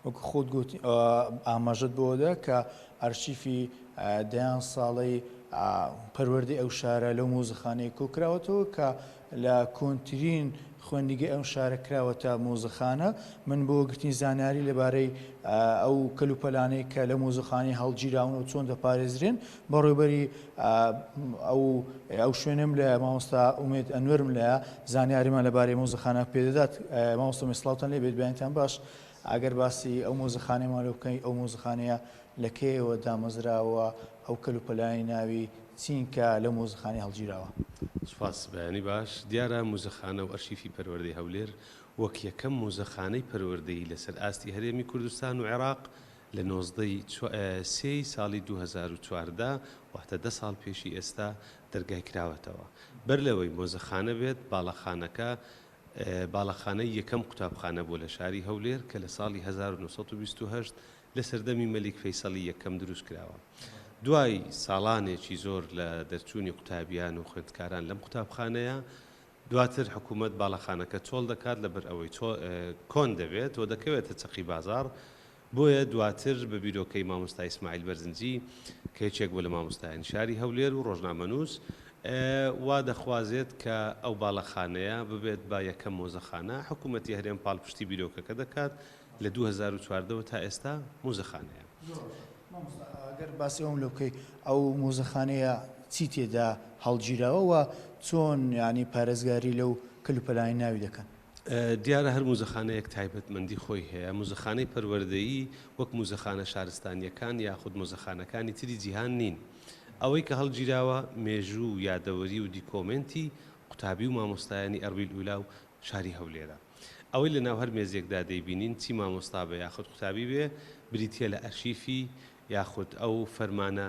وەکو خۆت گوت ئاماژەت بۆدا کە ئەرشیفی دەیان ساڵەی پەروەردەی ئەو شارە لەو مۆزەخانەی کۆکراوەتەوە کە لە کۆنترین خوێندیگە ئەم شارە کراوەتە مۆزەخانە من بۆ گرتنی زانیاری لەبارەی ئەو کەلوپەلانەی کە لە مۆزەخانی هەڵگیراون و چۆن دەپارێزرێن بەڕێوبەری ئەو ئەو شوێنەم لە مامۆستا ئومێد ئەنوەرم لە زانیاریمان لەبارەی مۆزەخانە پێدەدات مامۆستا میسڵاوتان لێ بێت بیانتان باش ئەگەر باسی ئەو مۆزەخانەمان لە بکەین ئەو مۆزەخانەیە لە کێوە دامەزراوە ئەو کەل و پەلانی ناوی چینکە لە مۆزەخانەی هەڵگیراوە. سوپاس بەیانی باش، دیارە موزەخانە و ئەرشیفی پەروەردەی هەولێر وەک یەکەم موزەخانەی پەروەردەیی لەسەر ئاستی هەرێمی کوردستان و عێراق لە نۆزدە ی سێ ی ساڵی دوو هەزار و چواردە، واتە دە ساڵ پێشی ئێستا دەرگای کراوەتەوە. بەر لەوەی مۆزەخانە بێت، باڵەخانەکە باڵەخانەی یەکەم قوتابخانە بووە لە شاری هەولێر کە لە ساڵی هەزار و نۆ سەد و بیست و هەشت لە سەردەمی مەلیک فەیسەڵی یەکەم دروست کراوە. دوای ساڵانێکی زۆر لە دەرچوونی قوتابیان و خوێندکاران لەم قوتابخانەیە، دواتر حکوومەت باڵەخانەکە چۆڵ دەکات لەبەر ئەوەی کۆن دەبێت و دەکەوێتە چەقی بازاڕ، بۆیە دواتر بە بیرۆکەی مامۆستا ئیسماعیل بەرزنجی کە یەکێک بوو لە مامۆستایانی شاری هەولێر و ڕۆژنامەنووس وا دەخوازێت کە ئەو باڵەخانەیە ببێت بە یەکەم مۆزەخانە، حکوومەتی هەرێم پاڵپشتی بیرۆکەکە دەکات، لە دوو هەزار و چواردە وە تا ئێستا مۆزەخانەیە. گەر باسی ئەوم لۆ بکەی ئەو مۆزەخانەیە چی تێدا هەڵگیراوە و چۆن یانی پارێزگاری لەو کەلوپەلانەی ناوی دەکەن؟ دیارە هەر موزەخانەیەک تایبەتمەندی خۆی هەیە، موزەخانەی پەروەردەیی وەک موزەخانە شارستانییەکان یاخود مۆزەخانەکانی تری جیهان نین، ئەوەی کە هەڵگیراوە مێژوو و یادەوەری و دیکۆمێنتی قوتابی و مامۆستایانی ئەرویل ئولا و شاری هەولێرە. ئەوەی لە ناو هەر مێزێکدا دەیبینین چی مامۆستا بێ یاخود قوتابی بێ بریتیە لە ئەرشیفی یاخود ئەو فەرمانە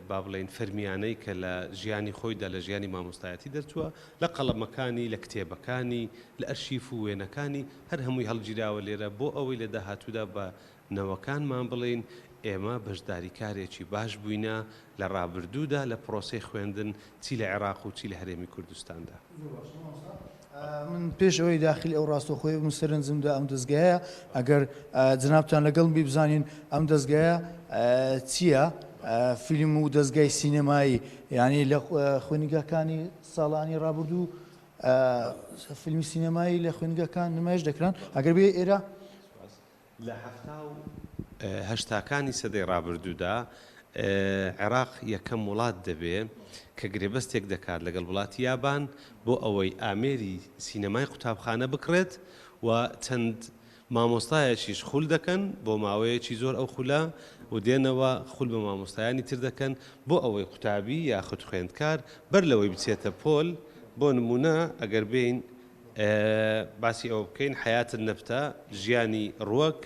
با بڵێین فەرمیانەی کە لە ژیانی خۆیدا لە ژیانی مامۆستایەتی دەرچووە لە قەڵەمەکانی لە کتێبەکانی لە ئەرشیف و وێنەکانی هەر هەمووی هەڵگیراوە لێرە بۆ ئەوەی لە داهاتوودا بە نەوەکانمان بڵێین ئێمە بەشداریکارێکی باش بووینە لە ڕابردوودا لە پرۆسەی خوێندن چی لە عێراق و چی لە هەرێمی کوردستاندا. من پێش ئەوەی داخلی ئەو ڕاستەوخۆیە بم سەرنجم دا ئەم دەزگایە ئەگەر جنابتان لەگەڵ بی بزانین ئەم دەزگایە چییە فیلم و دەزگای سینەمایی یعنی لە خوێنگەکانی ساڵانی ڕابردوو فیلمی سینەمایی لە خوێنگەکان نمایش دەکران ئەگەر بێ ئێرە لە هەفتا و هەشتاکانی سەدەی ڕابردوودا عێراق یەکەم وڵات دەبێ کە گرێبەستێک دەکات لەگەڵ وڵاتی یابان بۆ ئەوەی ئامێری سینەمای قوتابخانە بکڕێت و چەند مامۆستایەکیش خول دەکەن بۆ ماوەیەکی زۆر ئەو خولە و دێنەوە خول بە مامۆستایانی تر دەکەن بۆ ئەوەی قوتابی یاخود خوێندکار بەر لەوەی بچێتە پۆل بۆ نمونە ئەگەر بێین باسی ئەوە بکەین حەیاتن نەبتە، ژیانی ڕوەک،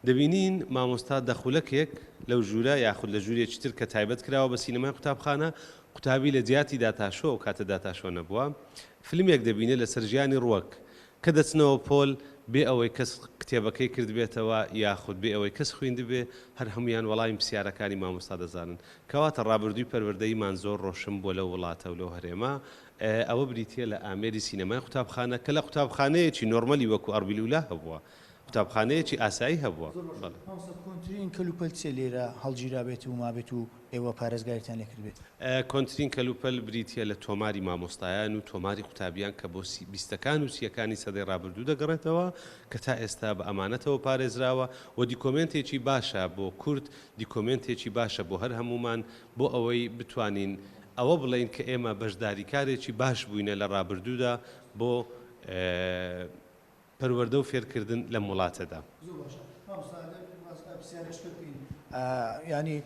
دەبینین مامۆستا دە خولەکێک لەو ژوورە یاخود لە ژوورێکی تر کە تایبەت کراوە بە سینەمای قوتابخانە، قوتابی لە جیاتی داتاشۆ، ئەو کاتە داتاشۆ نەبووە، فلمێک دەبینێت لەسەر ژیانی ڕوەک، کە دەچنەوە پۆل، بێ ئەوەی کەس کتێبەکەی کردبێتەوە یاخود بێ ئەوەی کەس خویندبێ، هەر هەموویان وەڵامی پسیارەکانی مامۆستا دەزانن. کەواتە ڕابردووی پەروەردەییمان زۆر ڕۆشن بووە لەو وڵاتە و لەو هەرێمە، ئەوە بریتییە لە ئامێری سینەمای قوتابخانە، کە لە قوتابخانەیەکی نۆرمەلی وەکوو ئەڕبیل ئولا هەبووە. قوتابخانەیەکی ئاسایی هەبووە. زۆر باشە. بەڵێ. مامۆستا کۆنترین کەلوپەل چییە لێرە هەڵگیرابێت و مابێت و ئێوە پارێزگاریتان لێ کردبێت؟ کۆنترین کەلوپەل بریتییە لە تۆماری مامۆستایان و تۆماری قوتابیان کە بۆ سی بیستەکان و سییەکانی سەدەی ڕابردوو دەگەڕێتەوە کە تا ئێستا بە ئەمانەتەوە پارێزراوە و دیکۆمێنتێکی باشە بۆ کورد، دیکۆمێنتێکی باشە بۆ هەر هەموومان، بۆ ئەوەی بتوانین ئەوە بڵێین کە ئێمە بەشداریکارێکی باش بووینە لە ڕابردوودا بۆ پەروەردە و فێرکردن لەم وڵاتەدا. زۆر باشە مامۆستا ئەگەر واز لە پرسیارە شتە بکەین یانی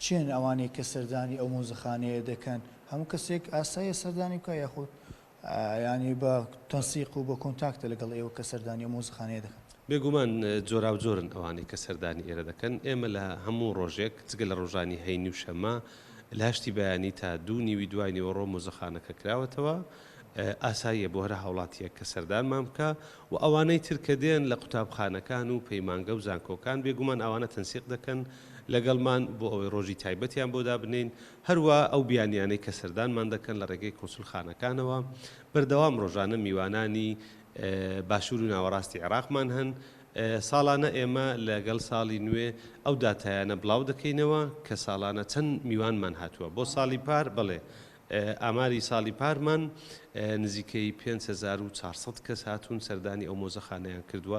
کێن ئەوانەی کە سەردانی ئەو مۆزەخانەیە دەکەن هەموو کەسێک ئاسایە سەردانی بکا یاخود یانی بە تەنسیق و بە کۆنتاکتە لەگەڵ ئێوە کە سەردانی ئەو مۆزەخانەیە دەکەن؟ بێگومان جۆراوجۆرن ئەوانەی کە سەردانی ئێرە دەکەن، ئێمە لە هەموو ڕۆژێک جگە لە ڕۆژانی هەینی و شەممە لە هەشتی بەیانی تا دوو نیوی دوای نیوەڕۆ مۆزەخانەکە کراوەتەوە، ئاساییە بۆ هەر هاوڵاتییەک کە سەردانمان بکا و ئەوانەی تر کە دێن لە قوتابخانەکان و پەیمانگە و زانکۆکان بێگومان ئەوانە تەنسیق دەکەن لەگەڵمان بۆ ئەوەی ڕۆژی تایبەتیان بۆ دابنێین هەروا ئەو بیانیانەی کە سەردانمان دەکەن لە ڕێگەی کونسولخانەکانەوە، بەردەوام ڕۆژانە میوانانی باشوور و ناوەڕاستی عێراقمان هەن، ساڵانە ئێمە لەگەڵ ساڵی نوێ ئەو داتایانە بڵاو دەکەینەوە کە ساڵانە چەند میوانمان هاتووە بۆ ساڵی پار، بەڵێ ئاماری ساڵی پارمان نزیکەی پێنج هەزار و چوار سەد کەس هاتوون سەردانی ئەو مۆزەخانەیان کردووە،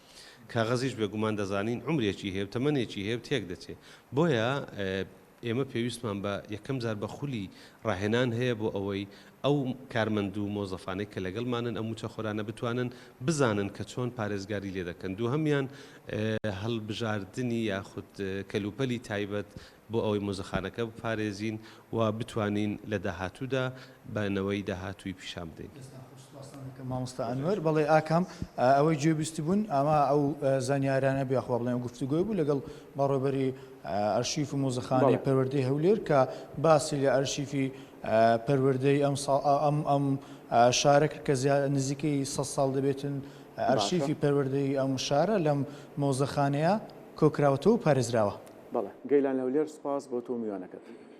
کاغەزیش بێگومان دەزانین عومرێکی هەیە و تەمەنێکی هەیە و تێک دەچێت. بۆیە ئێمە پێویستمان بە یەکەم جار بە خولی ڕاهێنان هەیە بۆ ئەوەی ئەو کارمەند و مۆزەفانەی کە لەگەڵمانن ئەم مووچەخۆرانە بتوانن بزانن کە چۆن پارێزگاری لێ دەکەن. دووهەمیان هەڵبژاردنی یاخود کەلوپەلی تایبەت بۆ ئەوەی مۆزەخانەکە بپارێزین و بتوانین لە داهاتوودا بە نەوەی داهاتووی پیشان بدەین. دەستتان خۆش سوپاستان دەکەم مامۆستا ئەنوەر. بەڵێ ئاکام ئەوەی گوێبیستبوون ئەوا ئەو زانیارانە بوو یاخوا بڵێم گفتوگۆی بوو لەگەڵ بەڕێوەبەری ئەرشیف و مۆزەخانەی پەروەردەی هەولێر کە باسی لە ئەرشیفی پەروەردەی ئەم ئەم شارە کرد کە زیا نزیکەی سەد ساڵ دەبێتن ئەرشیفی پەروەردەی ئەم شارە لەم مۆزەخانەیە کۆکراوەتەوە و پارێزراوە. بەڵێ گەیلان هەولێر سوپاس بۆ تۆ و میوانەکەت.